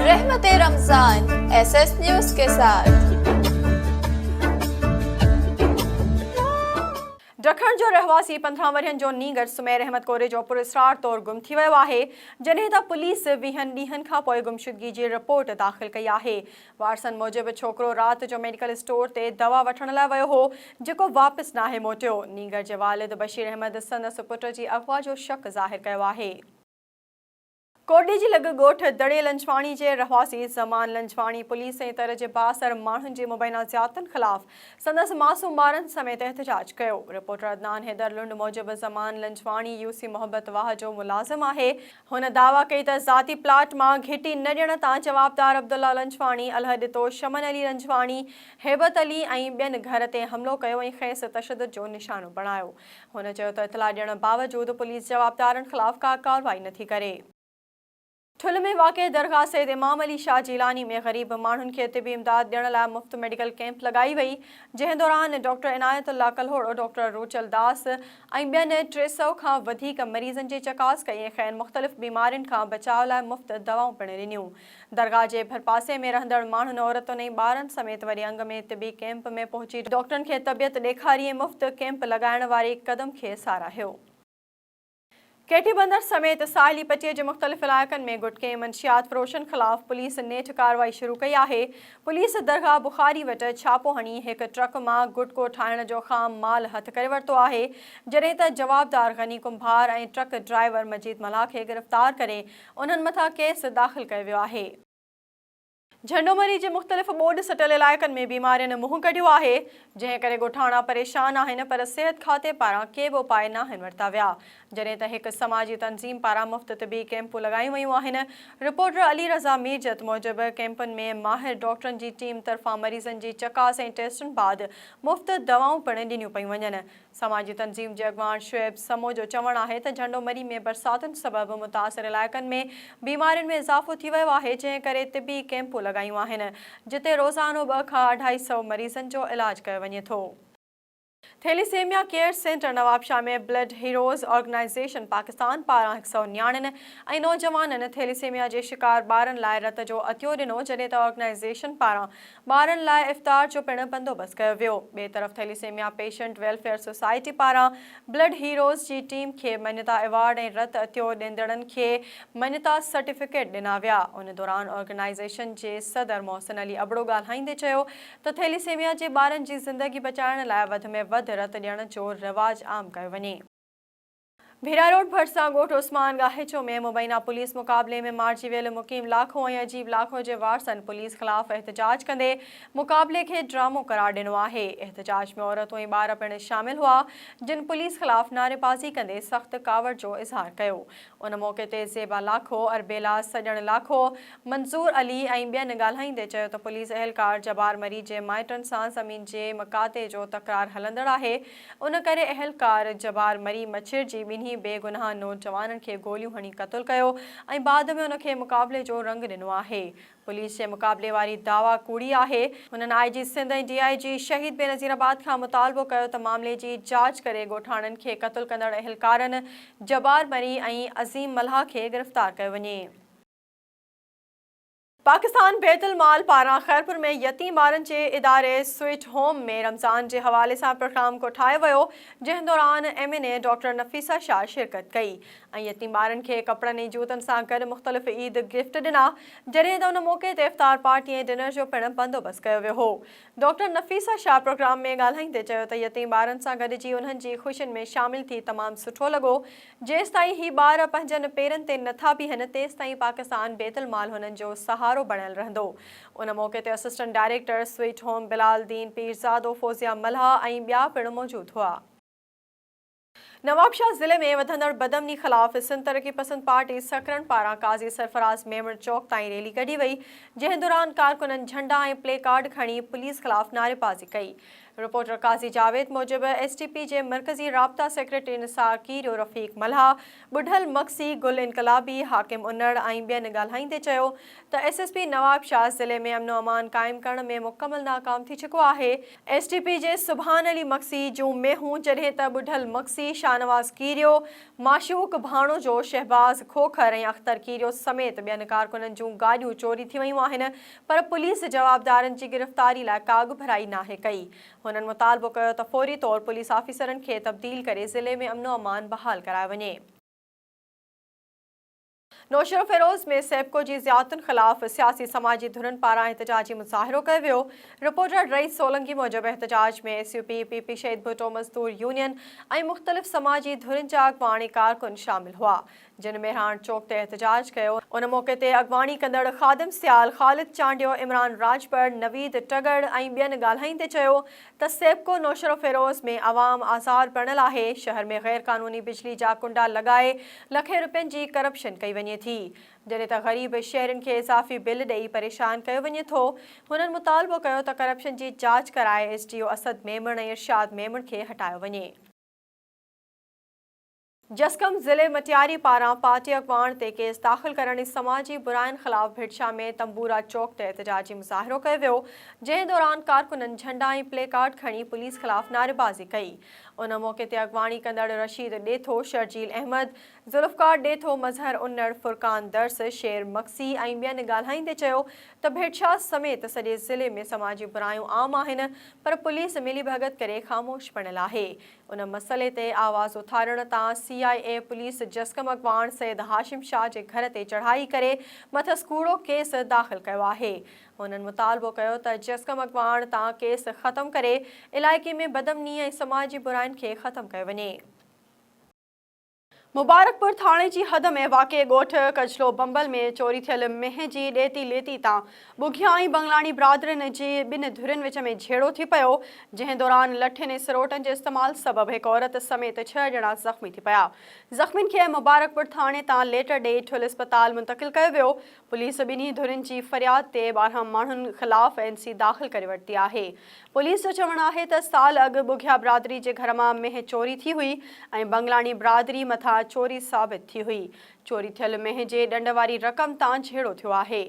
رحمت Ramzan S S news ڪي ساٿ. ڊکڻ جو رهواسي پندرهن ورهين جو نينگر سمير احمد ڪوريجو پراسرار طور گم ٿي ويو آهي جڏهن ته پوليس ويهن ڏينهن کانپوء گمشدگي جي رپورٽ داخل ڪئي آهي وارثن موجب ڇوڪرو رات جو ميڊيڪل اسٽور تي دوا وٺڻ لاء ويو هو، جيڪو واپس ناهي موٽيو. نينگر جي والد بشير احمد سندس پٽ جي اغوا جو شڪ ظاهر ڪيو آهي. ڪوٽڏيهه جي لڳ ڳوٺ دڙي لنجواڻي جي رهواسي زمان لنجواڻي پوليس ۽ تر جي بااثر ماڻهن جي مبينا زيادتن خلاف سندس معصوم ٻارن سميت احتجاج ڪيو. رپورٽر عدنان حيدر لنڊ موجب زمان لنجواڻي يوسي محبت واهه جو ملازم آهي. هن دعويٰ ڪئي ته ذاتي پلاٽ مان گهٽي نه ڏيڻ تان جوابدار عبدالله لنجواڻي، الهه ڏتو، شمن علي لنجواڻي، هيبت علي ۽ ٻين گهر تي حملو ڪيو ۽ کيس تشدد جو نشانو بڻايو. هن چيو ته اطلاع ڏيڻ باوجود پوليس جوابدارن خلاف ڪا ڪارروائي نٿي ڪري. ٺل ۾ واقع درگاهه سيد امام علي شاهه جيلاني ۾ غريب ماڻهن کي طبي امداد ڏيڻ لاء مفت ميڊيڪل ڪيمپ لڳائي وئي جنهن دوران ڊاڪٽر عنايت الله ڪلهوڙو، ڊاڪٽر روچل داس، ۽ ٻين ٽي سئو کان وڌيڪ مريضن جي چڪاس ڪئي ۽ کين مختلف بيمارين کان بچاء لاء مفت دوائون پڻ ڏنيون. درگاهه جي ڀرپاسي ۾ رهندڙ ماڻهن، عورتن ۽ ٻارن سميت وڏي انگ ۾ طبي ڪيمپ ۾ پهچي ڊاڪٽرن کي طبيعت ڏيکاري ۽ مفت ڪيمپ لڳائڻ واري قدم کي ساراهيو. ڪي ٽي بندر سميت ساحلي پٽي جي مختلف علائقن ۾ گٽڪي منشيات فروشن خلاف پوليس نيٺ ڪارروائي شروع ڪئي آهي، پوليس درگاهه بخاري وٽ ڇاپو هڻي هڪ ٽرڪ مان گٽڪو ٺاهڻ جو خام مال هٿ ڪري ورتو آهي، جڏهن ته جوابدار غني ڪنڀار ۽ ٽرڪ ڊرائيور مجيد ملاح کي گرفتار ڪري انهن مٿان ڪيس داخل ڪيو ويو آهي. جهنڊومري جي مختلف ٻوڏ سٽل علائقن ۾ بيمارين منهن ڪڍيو آهي، جنهن ڪري ڳوٺاڻا پريشان آهن پر صحت کاتي پاران ڪي به اپاء ناهن ورتا ويا، جڏهن ته هڪ سماجي تنظيم پاران مفت طبي ڪئمپون لڳايون ويون آهن. رپورٽر علي رضا ميرجت موجب ڪئمپن ۾ ماهر ڊاڪٽرن جي ٽيم طرفان مريضن جي چڪاس ۽ ٽيسٽن بعد مفت دوائون پڻ ڏنيون پيون وڃن، سماجي تنظيم جي اڳواڻ شعيب سمو جو چوڻ آهي ته جهنڊو مري ۾ برساتن سبب متاثر علائقن ۾ بيمارين ۾ اضافو ٿي ويو آهي جنهن ڪري طبي ڪيمپون لڳايون آهن جتي روزانو ٻه کان اڍائي سؤ مريضن جو علاج ڪيو وڃي ٿو. Thalassemia care centre Nawabshah ۾ blood heroes organisation Pakistan پاران هڪ سؤ نياڻين ۽ نوجوانن ٿيليسيميا جي شڪار ٻارن لاء رت جو عطيو ڏنو جڏهن ته آرگنائيزيشن پاران ٻارن لاء افطار جو پڻ بندوبست ڪيو ويو. ٻئي طرف ٿيليسيميا پيشنٽ ويلفيئر سوسائٽي پاران بلڊ هيروز جي ٽيم کي مڃتا ايوارڊ ۽ رت عطيو ڏيندڙن کي مڃتا سرٽيفڪيٽ ڏنا ويا. ان دوران آرگنائيزيشن جي صدر محسن علي ابڙو ڳالهائيندي چيو ته ٿيليسيميا جي ٻارن جي زندگي بچائڻ لاء وڌ ۾ وڌ رت ڏيڻ جو رواج عام ڪيو وڃي. ڀيرا روڊ ڀرسان ڳوٺ عثمان ڳاهيچو ۾ مبينا پوليس مقابلي ۾ مارجي ويل مقيم لاکو ۽ عجيب لاکو جي وارثن پوليس خلاف احتجاج ڪندي مقابلي کي ڊرامو قرار ڏنو آهي احتجاج ۾ عورتون ۽ ٻار پڻ شامل هئا جن پوليس خلاف نعريبازي ڪندي سخت ڪاوڙ جو اظهار ڪيو ان موقعي تي زيبا لاکو، اربيلا سڄڻ لاکو، منظور علي ۽ ٻين ڳالهائيندي چيو ته پوليس اهلڪار جبار مري جي مائٽن سان زمين جي مقاطعي جو تڪرار هلندڙ آهي ان ڪري اهلڪار جبار مري مڇر جي ٻنهي بي گناهه نوجوانن کي گوليون هڻي قتل ڪيو ۽ بعد ۾ ان کي مقابلي جو رنگ ڏنو آهي. پوليس جي مقابلي واري دعويٰ ڪوڙي آهي. هنن آء جي سنڌ ۽ ڊي آء جي شهيد بينظير آباد کان مطالبو ڪيو ته معاملي جي جاچ ڪري ڳوٺاڻن کي قتل ڪندڙ اهلڪارن جبار مري ۽ عظيم ملاح کي گرفتار ڪيو وڃي. پاڪستان بيت المال پاران خيرپور ۾ يتيم ٻارن جي اداري سوئيٽ هوم ۾ رمضان جي حوالي سان پروگرام ڪوٺايو ويو، جنهن دوران M N A doctor Nafisa Shah شرڪت ڪئي ۽ يتيم ٻارن کي ڪپڙن ۽ جوتن سان گڏ مختلف عيد گفٽ ڏنا، جڏهن ته ان موقعي تي افطار پارٽي ۽ ڊنر جو پڻ بندوبست ڪيو ويو هو. ڊاڪٽر نفيسه شاهه پروگرام ۾ ڳالهائيندي چيو ته يتيم ٻارن سان گڏجي انهن جي خوشين ۾ شامل ٿي تمام سٺو لڳو، جيستائين هي ٻار پنهنجن پيرن تي نٿا بيهن تيستائين پاڪستان بيت المال هنن جو سهارو بڻيل رهندو. ان موقعي تي assistant director sweet home Bilal Din Pirzado, Fouzia Mallah ۽ ٻيا پڻ موجود هئا. نوابشاهه ضلعي ۾ وڌندڙ بدامني خلاف سنڌ ترقي پسند پارٽي سکرن پاران قاضي سرفراز ميمڻ چوڪ تائين ريلي ڪڍي وئي جنهن دوران ڪارڪنن جهنڊا ۽ پلي ڪارڊ کڻي پوليس خلاف نعريبازي ڪئي رپورٽر قاضي جاويد موجب ايس ٽي پي جي مرڪزي رابطا سيڪريٽري نثار کيريو رفيق ملهاء، ٻڍل مگسي، گل انقلابي، حاڪم انڙ ۽ ٻين ڳالهائيندي چيو ته ايس ايس پي نوابشاهه ضلعي ۾ امن و امان قائم ڪرڻ ۾ مڪمل ناڪام ٿي چڪو آهي، ايس ٽي پي جي سبحان علي مگسي جون مينهون جڏهن ته ٻڍل مگسي، شاهنواز کيريو، معشوق ڀاڻوجو، شهباز کوکر ۽ اختر کيريو سميت ٻين ڪارڪنن جون گاڏيون چوري ٿي ويون آهن، پر پوليس جوابدارن جي گرفتاري لاء ڪاڳڀرائي ناهي ڪئي. هنن مطالبو ڪيو ته فوري طور پوليس آفيسرن کي تبديل ڪري ضلعي ۾ امن و امان بحال ڪرايو وڃي. نوشهروفيروز ۾ سيپڪو جي زيادتين خلاف سياسي سماجي ڌرين پاران احتجاجي مظاهرو ڪيو ويو. رپورٽر رئيس سولنگي موجب احتجاج ۾ S U P, P P, Shaheed Bhutto مزدور يونين ۽ مختلف سماجي ڌرين جا اڳواڻ ۽ ڪارڪن شامل هئا. جن ميرهاڻ چوڪ تي احتجاج ڪيو، ان موقعي تي اڳواڻي ڪندڙ خادم سيال، خالد چانڊيو، عمران راڄپر، نويد ٽڳڙ ۽ ٻين ڳالهائيندي چيو ته سيپڪو نوشهروفيروز ۾ عوام آزار بڻيل آهي، شهر ۾ غيرقانوني بجلي جا ڪنڊا لڳائي لکين روپين جي ڪرپشن ڪئي وڃي ٿي، جڏهن ته غريب شهرين کي اضافي بل ڏئي پريشان ڪيو وڃي ٿو، هنن مطالبو ڪيو ته ڪرپشن جي جاچ ڪرائي S D O Asad Memon ۽ Irshad Memon کي هٽايو وڃي. جسقم ضلعي مٽياري پاران پارٽي اڳواڻ تي ڪيس داخل ڪرڻ ۽ سماجي براين خلاف ڀٽشاه ۾ تنبورا چوڪ تي احتجاجي مظاهرو ڪيو ويو جنهن دوران ڪارڪنن جهنڊا ۽ پلي ڪارڊ کڻي پوليس خلاف نعريبازي ڪئي ان موقعي تي اڳواڻي ڪندڙ رشيد ڏيٿو، شرجيل احمد، ذوالفقار ڏيٿو، مظهر انڙ، فرقان درس، شير مگسي ۽ ٻين ڳالهائيندي چيو ته ڀٽشاه سميت سڄي ضلعي ۾ سماجي برايون عام آهن پر پوليس ملي ڀڳت ڪري خاموش پڻيل آهي ان مسئلي تي آواز اٿارڻ تان سي آء اي پوليس جسقم اڳواڻ سيد هاشم شاهه جي گهر تي چڙهائي ڪري مٿس ڪوڙو ڪيس داخل ڪيو آهي. هنن مطالبو ڪيو ته جسقم اڳواڻ تان ڪيس ختم ڪري علائقي ۾ بدامني ۽ سماجي براين کي ختم ڪيو وڃي. مبارڪپور ٿاڻي جي حد ۾ واقع ڳوٺ ڪجلو بمبل ۾ چوري ٿيل مينهن جي ڏيتي ليتي تان ٻگهيان ۽ بنگلاڻي برادرين جي ٻن ڌرين وچ ۾ جهيڙو ٿي پيو، جنهن دوران لٺين ۽ سروٽن جي استعمال سبب هڪ عورت سميت ڇهه ڄڻا زخمي ٿي پيا. زخمين کي مبارڪپور ٿاڻي تان ليٽر ڏئي ٺل اسپتال منتقل ڪيو ويو. پوليس ٻنهي ڌرين جي فرياد تي ٻارهن ماڻهن خلاف اين سي داخل ڪري ورتي آهي. پوليس جو چوڻ آهي ته سال اڳ ٻگهيا برادري جي گهر مان مينهن چوري ٿي هئي ۽ بنگلاڻي برادري مٿان چوري ثابت ٿي هئي. چوري ٿيل مينهن جي ڏنڊ واري رقم تان جهيڙو ٿيو آهي.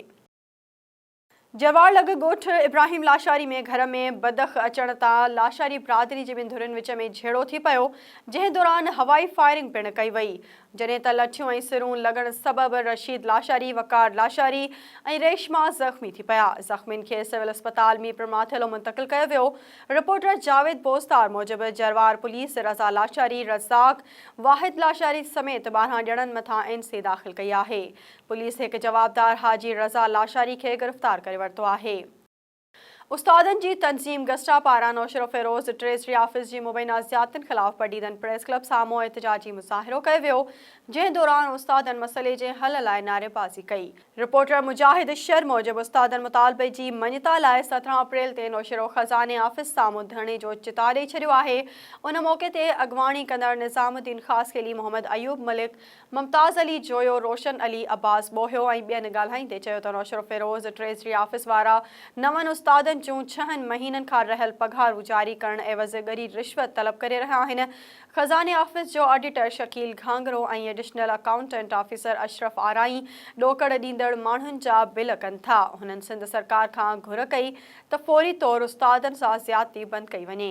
جوار لڳ ڳوٺ ابراهيم لاشاري ۾ گهر ۾ بدخ اچڻ تان لاشاري برادري جي ٻن ڌرين وچ ۾ جهيڙو ٿي پيو، جنهن دوران هوائي فائرنگ پڻ ڪئي وئي، جڏهن ته لٺيون ۽ سرون لڳڻ سبب رشيد لاشاري، وقار لاشاري ۽ ريشما زخمي ٿي پيا، زخمين کي سول اسپتال ميرپورماٿيلو منتقل ڪيو ويو، رپورٽر جاويد بوستار موجب جروار پوليس رضا لاشاري، رزاق، واحد لاشاري سميت ٻارهن ڄڻن مٿان اين سي داخل ڪئي آهي، پوليس هڪ جوابدار حاجي رضا لاشاري کي گرفتار ڪري ورتو آهي. استادن جي تنظيم گسٽا پاران نوشهروفيروز ٽريزري آفيس جي مبينا زيادتين خلاف بڊيدن پريس ڪلب سامهون احتجاجي مظاهرو ڪيو ويو، جنهن دوران استادن مسئلي جي حل لاء نعريبازي ڪئي. رپورٽر مجاهد شر موجب استادن مطالبي جي مڃتا لاء سترهن اپريل تي نوشهرو خزاني آفيس سامهون ڌرڻي جو چتاء ڏئي ڇڏيو آهي. ان موقعي تي اڳواڻي ڪندڙ نظام الدين خاصخيلي، محمد ايوب ملڪ، ممتاز علي جويو، روشن علي، عباس ٻوهيو ۽ ٻين ڳالهائيندي چيو ته نوشهروفيروز ٽريزري آفيس وارا نون استادن جون ڇهن مهينن کان رهيل پگهارون جاري ڪرڻ عيوض ڳري رشوت طلب ڪري رهيا آهن، خزاني آفيس جو auditor Shakeel Ghangro ۽ additional accountant officer Ashraf Arain ڏوڪڙ ڏيندڙ ماڻهن جا بل ڪن ٿا، هنن سنڌ سرڪار کان گهر ڪئي ته فوري طور استادن سان زيادتي بند ڪئي وڃي.